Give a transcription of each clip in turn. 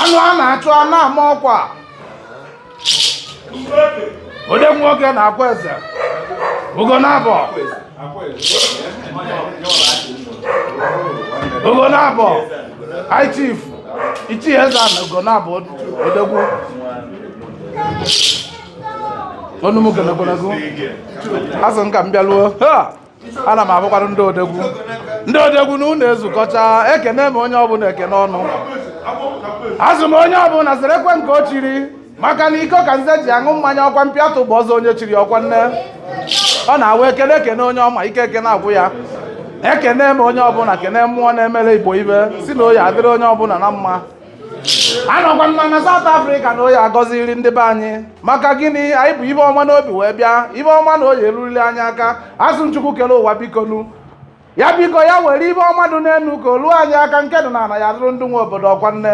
anụ a na-achụ a na-ama ọkwa ode nwoke na-akwa eze Ugonabọ Ugonabọ high chief ichie eze na Ugonabọ odogwu ọnụ m gologonago asị m ka m bịaruo ana m ahụkwara ndị odogwu ndị odogwu na unu ezukọcha ekene m onye ọbụla ekene unu asị m onye ọbụla zarikwe nke o chiri maka na iko ka nze ji aṅụ mmanya ọkwa mpi atụ bụ ọzọ onye chiri ọkwa nne ọ na-awụ ekene ekene onye ọma ike ekene agwụ ya ekene m onye ọbụla kene mmụọ na-emere Igbo ihe sị na ọ ya-adịrị onye ọbụla na mma anọkwa mma na South Africa na ọ ya-agọziri ndị be anyị maka gịnị anyị bu ihe ọma n'obi wee bịa ihe ọma na ọ ya-erurili anyị aka asị m Chukwu kere ụwa bikonu ya biko ya were ihe ọma dị n'elu ka o luo anyị aka nke dị n'ala ya dụrụ ndị nwe obodo ọkwa nne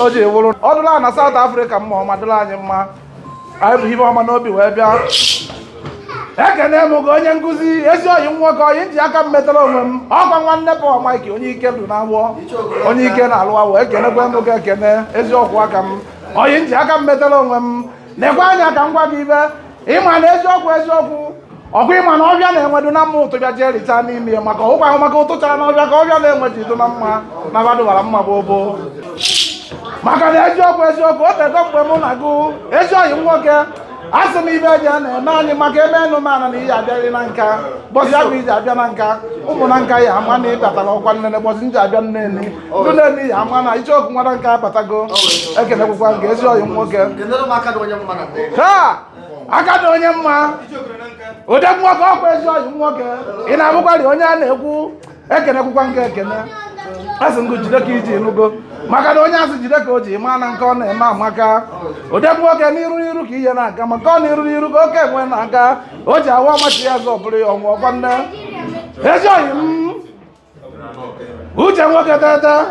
o ji wụrụ ọ dụla na South Africa mma ọma dụrụ anyị mma anyị bu ihe ọma n'obi wee bịa ekene m gị onye nkụzi ezi ọyị nwoke ọyị m ji aka m metara onwe m ọkwa nwanne Paul Mike onye ike dị n'awọ onye ike na-alụ awọ ekenekwe m gị ekene eziokwu aka m ọyị m ji aka m metara onwe m nekwe anya ka m gwa gị ihe ịma na eziokwu eziokwu ọkwa ịma na ọhịa na enwe dụ na mma ụtụ bịa ji ericha n'ime ya maka ụkwa ahụ maka ụtụ chara na ọhịa ka ọhịa na enwe ji dụ na mma na ha dụbara mma gboo gboo maka na eziokwu eziokwu o tego mgbe mụ na gụ ezi ọyị nwoke a sị m ihe ji a na-eme anyị maka ebe enụ mana na ị ya-abịarị Nanka ụbọsị ahụ ị ji abịa Nanka ụmụ Nanka ya-ama na ị batara ọkwa nne na ụbọsị m ji abịa Neni ndị Neni ya-ama na Icheoku nwa Nanka abatago ekenekwukwa m gị ezi ọyị nwoke aka dị onye mma odogwu nwoke ọkwa ezi ọyị nwoke ị na-ahụkwari onye a na-ekwu ekenekwukwa m gị ekene asị m gụ jide ka i ji nụgo maka na onye asị jide ka o ji maa na nke ọ na-eme amaka odogwu nwoke n'iru n'iru ka ị ya na-aga maka ọ n'iru n'iru ka oke enwe na-aga o ji awa ọ machie azụ ọ bụrụ ya ọnwụ ọkwa nne ezi ọyị m uche nwoke tata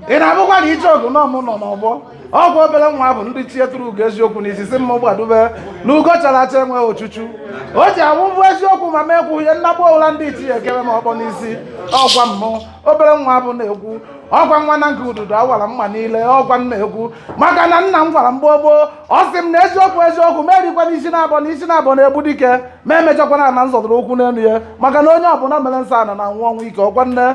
ị na-ahụkwa na Icheoku na ọ mụ nọ n'ọgbọ egwu obere nwa ahụ ndị ichie tụrụ ugo eziokwu na isisi mma gbadube na ugo chara acha enweghị ochuchu o ji awụ mbụ eziokwu ma mee kwuhie nnagbu ụla ndị ichie ekebe m okpu n'isi ọkwa mụ obere nwa ahụ na-ekwu ọkwa nwa Nanka ududo awara mma niile ọkwa m na-ekwu maka na nna m gwara m gboo gboo ọ sị m na eziokwu eziokwu m erikwana isi naabọ na isi naabọ na-egbu dike ma emechakwana na nzọdụrụ ụkwụ n'elu ya maka na onye ọbụla mere nsọ ana na-anwụ ọnwụ ike ọkwa nne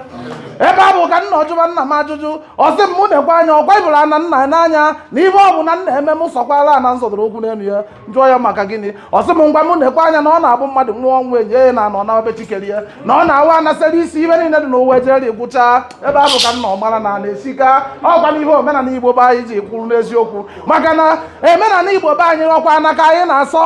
ebe a bụ ka m nọ jụba nna m ajụjụ ọ sị m mụ na-ekwe anya ọkwa ị bụrụ ana nna n'anya na ibe ọbụna m na-eme m sọkwala ana nzọdụrụ ụkwụ n'elu ya m jụọ ya maka gịnị ọ sị m ngwa mụ na-ekwe anya na ọ na-abụ mmadụ nwụọ ọnwụ e nie ya n'ana na obe chi kere ya na ọ na-awa anasịrị isi ibe niile dị n'ụwa ejeri gwụchaa ebe a bụ ka m nọ mara na ana esika ọkwa na ihe omenala igbo be anyị ji kwụrụ n'eziokwu maka na omenala igbo be anyị ọkwa ana ka anyị na-asọ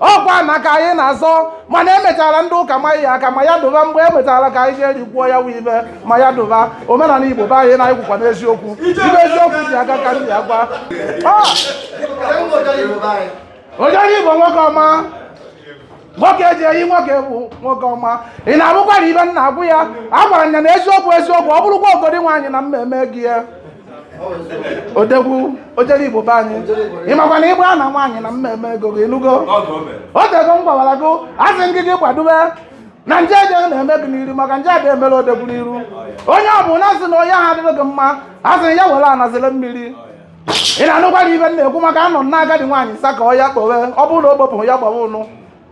ọkwa ana ka anyị na-azọ mana e mechara ndị ụka ma ya aka ma ya dụba mgbe e mechara ka anyị jee rikwuo ya wee ibe ma ya dụba omenala igbo be anyị na-ekwukwa n'eziokwu ibe eziokwu ji aga ka ndị agwa ah! ojere igbo nwoke ọma nwoke eji eyi nwoke bụ nwoke ọma ị na-anụkwara ibe m na-agwa ya a gwara ya na eziokwu eziokwu ọ bụrụkwa agadi nwaanyị na mmemme gị ya odegwu ojere igbo be anyị ị makwa na ịgba na nwaanyị na mmemme ego gị ị nụgo o tego m gwawara gị asị m gị gị kwadobe na nje eje na-eme gị n'iru maka nje abịa emere odegwu n'iru onye ọbụna sị na onye ahụ adịrị gị mma asị ya were anazile mmiri ị na-anụkwara ibe m na-ekwu maka anọ na agadi nwaanyị nsa ka ọ ya kpowe ọ bụrụ na o gbopụrụ ya gbawa ụnụ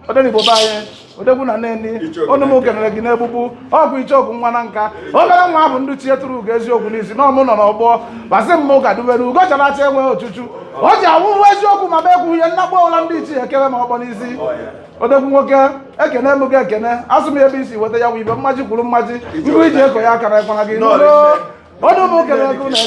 odenigbo be anyị odegwu na nnenni ọnụ m kenere gị n'egbugbu ọgwụ icheoku nwa na nka obere nwa ahụ ndị ichie turu ugo eziokwu n'isi na ọ mụ nọ n'ọgbọ gbasị m ụka dubere ugo chara acha enweghị ochuchu o ji awụhụ eziokwu ma be ekwu ihe nnakpọ ụla ndị ichie ekere ma ọkpọ n'isi odegwu nwoke ekene m gị ekene asụ m ebe isi weta ya bụ ibe mmaji kwuru mmaji ngụ iji eko ya akara ekwara gị n'ụlọ ọnụ m kenere gị